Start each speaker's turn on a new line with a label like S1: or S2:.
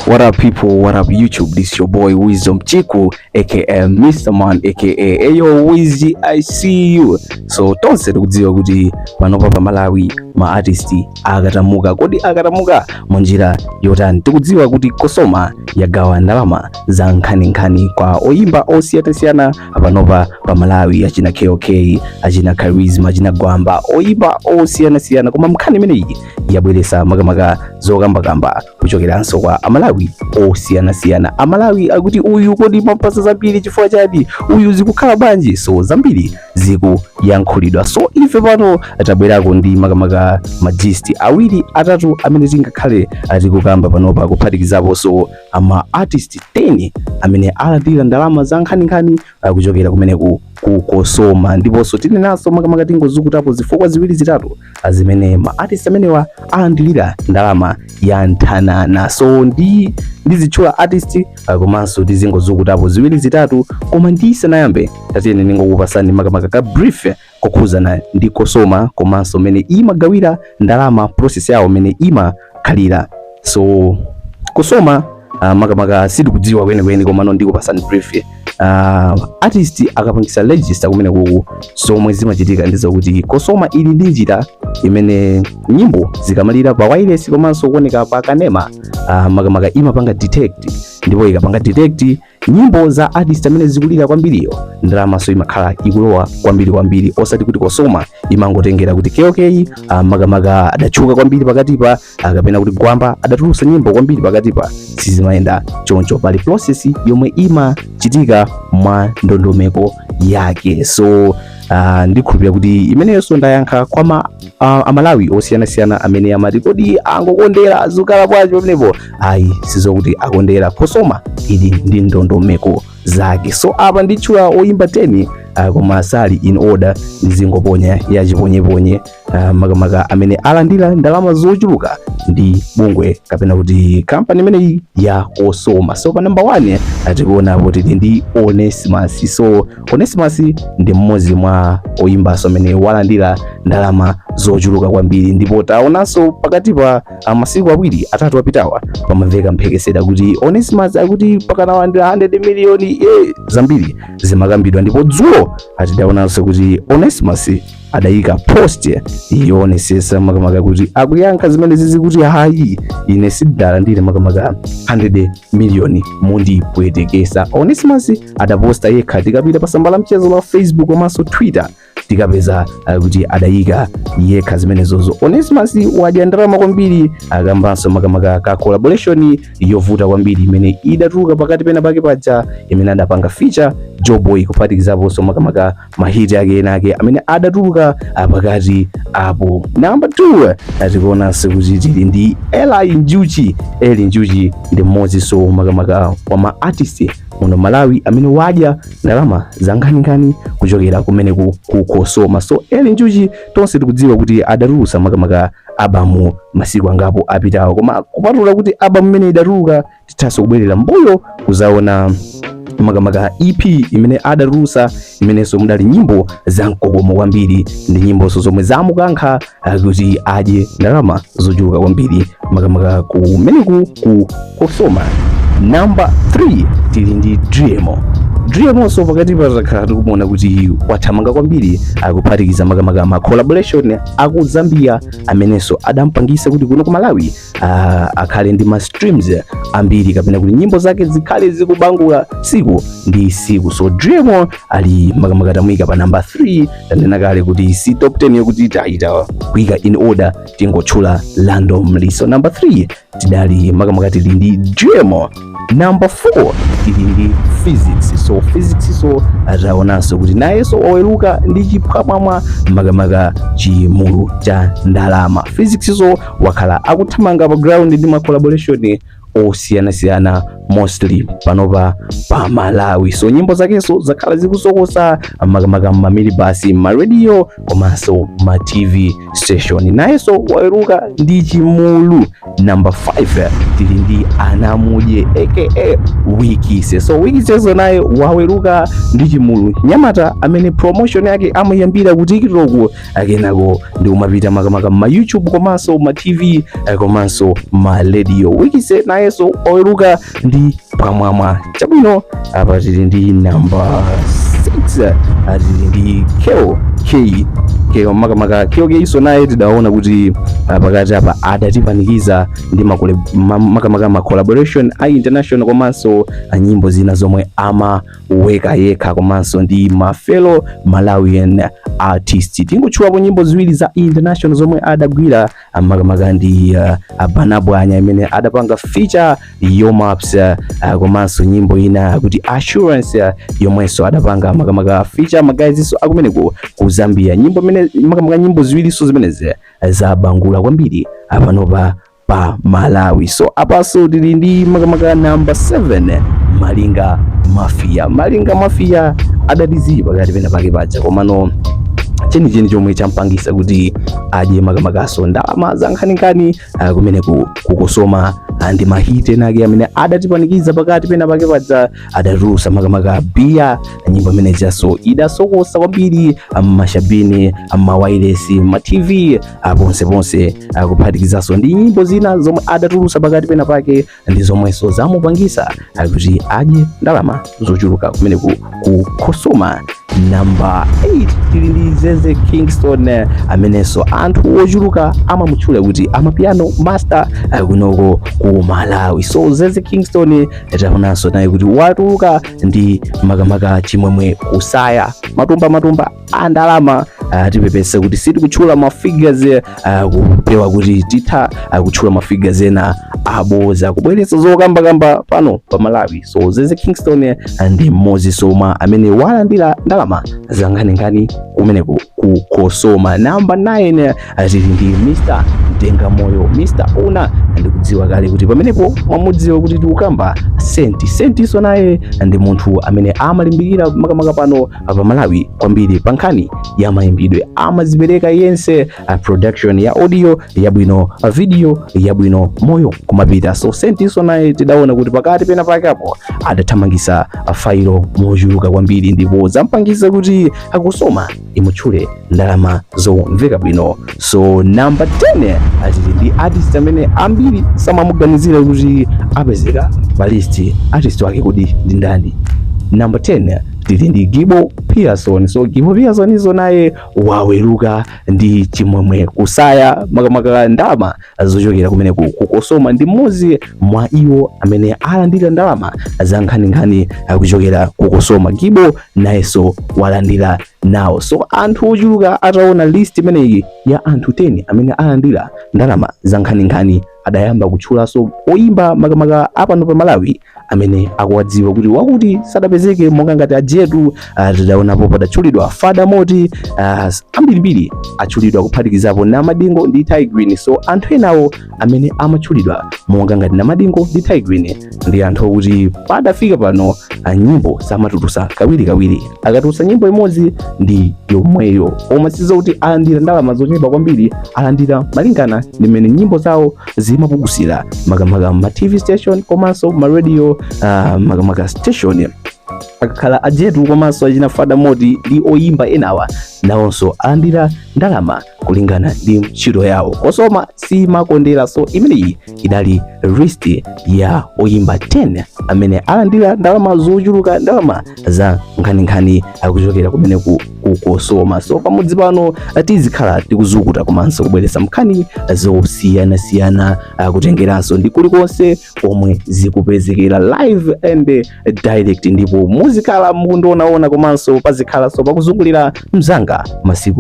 S1: What up people, what up YouTube, this your boy Wisdom Chiku aka Mr. Man aka Ayo Wizzy, I see you. So tonse tikudziwa kuti panopa pa Malawi ma artist akatamuka, kodi akatamuka munjira yotani? Tikudziwa kuti Cosoma yagawa ndalama za nkhaninkhani kwa oyimba osiyanasiyana panopa pa Malawi, achina KOK, achina Charisma, achina Gwamba, oyimba osiyanasiyana, koma nkhani imeneyi yabweretsa makamaka zokambakamba kuchokeranso kwa amalawi osiyanasiyana amalawi akuti uyu kodi mwampatsa zambiri chifukwa chani uyu zikukhala bwanji so zambiri zikuyankhulidwa so ife pano tabwerako ndi makamaka magist awiri atatu amene tingakhale tikukamba panopa kuphatikizaponso ama artist 10 amene alandira ndalama za nkhaninkhani kuchokera kumene kuku Cosoma ndiponso tinenanso makamaka tingozukutapo zifukwa ziwiri zitatu zimene ma artist amenewa alandilira ndalama ya nthananana so ndi ndizitchula artist ah, komanso tizingozukutapo ziwiri zitatu koma ndisanayambe tatiyene ndingokupasani makamaka ka brief kokhudzana ndi Cosoma komanso mene imagawira ndalama process yawo mene imakhalira so Cosoma uh, makamaka sitikudziwa kwenikweni komano ndikupasani brief uh, artist akapangisa register kumene kuku zomwe zimachitika ndi zakuti Cosoma ili ndi njira imene nyimbo zikamalira pa wailesi komanso kuoneka pa kanema uh, makamaka imapanga detect ndipo ikapanga detect nyimbo za artist amene zikulira kwambiriyo ndalamanso imakhala ikulowa kwambiri kwambiri osati kuti Cosoma imangotengera kuti KOK ah, makamaka adatchuka kwambiri pakatipa ah, kapena kuti Gwamba adatulutsa nyimbo kwambiri pakatipa sizimayenda choncho pali process yomwe imachitika mwa ndondomeko yake so uh, ndikhulupira kuti imeneyonso ndayankha kwa ma, uh, amalawi osiyanasiyana amene amati kodi angokondera zikukhala bwanji pamenepo ayi sizokuti akondera Cosoma ili ndi ndondomeko zake so apa nditchula oyimba 10 uh, koma sali in order ndizingoponya chiponyeponye uh, makamaka amene alandira ndalama zochuluka ndi bungwe kapena kuti kampani imeneyi ya Cosoma so pa namba 1 tikuona kuti ndi Onesimus so Onesimus ndi mmodzi mwa oyimbanso amene walandira ndalama zochuluka kwambiri ndipo taonanso pakatipa a masiku awiri atatu apitawa pamamveka mphekesera kuti Onesimus akuti akukanawa ndi 100 miliyoni e zambiri zimakambidwa ndipo dzulo tidaonanso kuti Onesimus adayika post yoonetsetsa makamaka kuti akuyankha zimene zizi kuti ayi ine sindalandire makamaka 100 miliyoni mundipweteketsa Onesimus adaposta yekha tikapita pa tsamba la mchezo la Facebook komanso Twitter tikapeza uh, kuti adayika yekha zimenezozo onesimus wadya ndalama kwambiri akambanso makamaka ka collaboration yovuta kwambiri imene idatuluka pakati pena pake paja imene adapanga feature joeboy kuphatikizaponso makamaka mahiti ake enaake amene adatuluka uh, pakati apo namba 2 uh, tikuonanso kuti tili ndi eli njuchi eli njuchi ndi mmodzinso makamaka wa ma artist muno malawi amene wadya ndalama zankhaninkhani kuchokera kumeneku ku cosoma so eli njuchi tonse tikudziwa kuti adatulutsa makamaka album masiku angapo apitawo koma kupatula kuti album imene idatuluka tithanso kubwerera mbuyo kuzaona makamaka EP imene adatulutsa imenenso mudali nyimbo za mkokomo kwambiri ndi nyimboso zomwe zamukankha kuti adye ndalama zochuluka kwambiri makamaka kumeneku ku cosoma namba 3 tili ndi driemo driemonso pakatipa takhala tikumuona kuti wathamanga kwambiri akuphatikiza makamaka ma collaboration aku zambia amenenso adampangisa kuti kuno ku malawi uh, akhale ndi ma streams ambiri kapena kuti nyimbo zake zikhale zikubangula siku ndi siku so Driemo ali makamaka tamuika pa number 3 tanena kale kuti si top 10 yokuti taita kuika in order tingotchula randomly so number 3 tidali makamaka tili ndi Driemo Number 4 tili ndi Phyzix. So Phyzixso taonanso kuti nayenso waweruka ndi chiphwamwamwa makamaka chimulu cha ndalama. Phyzixso wakhala akuthamanga pa ground ndi ma collaboration osiyanasiyana mostly panopa pa Malawi. So nyimbo zakenso zakhala zikusokosa makamaka m'maminibasi, m'maradio komanso ma TV station. Nayenso waweruka ndi chimulu Number 5 tili ndi Anamudye aka Wikise. So Wikiseso naye waweruka ndi chimulu mnyamata amene promotion yake amayambira ku TikTok akenako ndikumapita makamaka ma YouTube komanso ma TV eh, komanso ma radio. Wikise nayeso waweruka ndi phwamwamwa chabwino apa tili ndi namba 6 ah, tili ndi kell kay kell makamaka kell kayso naye tidaona kuti ah, pakati apa adatipanikiza ndi makole- ma- makamaka ma collaboration a international komanso a nyimbo zina zomwe amaweka yekha komanso ndi ma fellow malawian artist tingotchulapo nyimbo ziwiri za international zomwe adagwira makamaka ndi uh, Bana Pwanya imene adapanga feature Yo Maps uh, komanso nyimbo ina kuti assurance uh, yomwenso adapanga makamaka feature ma guys so akumeneko ku Zambia nyimbo imene makamaka nyimbo ziwiriso zimenezi uh, zabangula kwambiri apanopa pa Malawi so apaso tili ndi makamaka namba 7 malinga mafia malinga mafia adatizipa pakati pena pake paja komano chenicheni chomwe champangisa kuti adye makamakaso ndalama za nkhaninkhani ah, kumeneku ku Cosoma ah, ndi mahiti enake amene adatipanikiza pakati pena pake paja adatulusa makamaka biya nyimbo imene ijaso idasokosa kwambiri ah, m'mashabini ah, m'mawailesi ma tv ah, ponseponse ah, kuphatikizaso ndi nyimbo zina zomwe adatulusa pakati pena pake ndi zomwenso zamupangisa kuti adye ndalama zochuluka kumeneku ku Cosoma namba 8 tili ndi zeze kingston eh, amenenso anthu ochuluka amamutchula kuti amapiano master eh, kunoko ku malawi so zeze kingston eh, taonanso naye kuti watuluka ndi makamaka chimwemwe kusaya matumba matumba a ndalama uh, tipepese kuti sitikutchula ma figures uh, kupewa kuti titha uh, kutchula ma figures ena aboza kubweretsa zokamba kamba pano pa Malawi so zeze Kingston eh, ndi mmodziso mwa amene walandira ndalama zankhaninkhani kumeneko ku Cosoma number 9 eh, tili ndi Mr Denga moyo Mr. Una ndikudziwa kale kuti pamenepo mwamudziwa kuti tikukamba Saint Saint so naye ndi munthu amene amalimbikira makamaka pano pa Malawi kwambiri pa nkhani ya mayimbidwe amazipereka yense a production ya audio yabwino a video yabwino moyo kumapita so Saint so naye tidaona kuti pakati pena pake apo adathamangisa failo mochuluka kwambiri ndipo zampangisa kuti a Cosoma imutchule ndalama zomveka bwino. So number 10 ah, tili ndi artist amene ambiri samamuganizira kuti apezeka pa list. Artist wake kodi ndi ndani? Number 10 tili ndi Gibo Pearson. So Gibo Pearson so naye waweruka ndi chimwemwe kusaya makamaka ndalama zochokera kumeneku ku Cosoma ndi mmodzi mwa iwo amene alandira ndalama za nkhaninkhani kuchokera ku Cosoma. Gibo nayenso walandira nawo. So anthu ochuluka ataona list imeneyi ya anthu 10 amene alandira ndalama za nkhaninkhani adayamba kutchulanso oyimba makamaka apano pa Malawi amene akuwadziwa kuti wakuti sadapezeke monga ngati ajetu ah, tidaonapo padatchulidwa fada moti ah, ambirimbiri atchulidwa kuphatikizapo namadingo ndi tay grin so anthu enawo amene amatchulidwa monga ngati namadingo ndi tay grin ndi anthu okuti padafika pano ah, nyimbo samatulusa kawirikawiri akatulusa nyimbo imodzi ndi yomweyo koma sizokuti alandira ndalama zochepa kwambiri alandira malingana ndi mmene nyimbo zawo zimapangira makamaka ma tv station komanso ma radio uh, makamaka station akakhala ajetu komanso achina fada moti ndi oyimba enawa nawonso alandira ndalama kulingana ndi ntchito yawo cosoma simakondera so imeneyi idali list ya oyimba 10 amene alandira ndalama zochuluka ndalama za nkhaninkhani kuchokera kumene ku cosoma so pamudzi pano eh, tizikhala tikuzukuta komanso kubweretsa nkhani zosiyanasiyana eh, kutengeranso ndi kulikonse komwe zikupezekera live and eh, direct ndipo muzikhala mukundionaona komanso pazikhalanso pakuzungulira mzanga masiku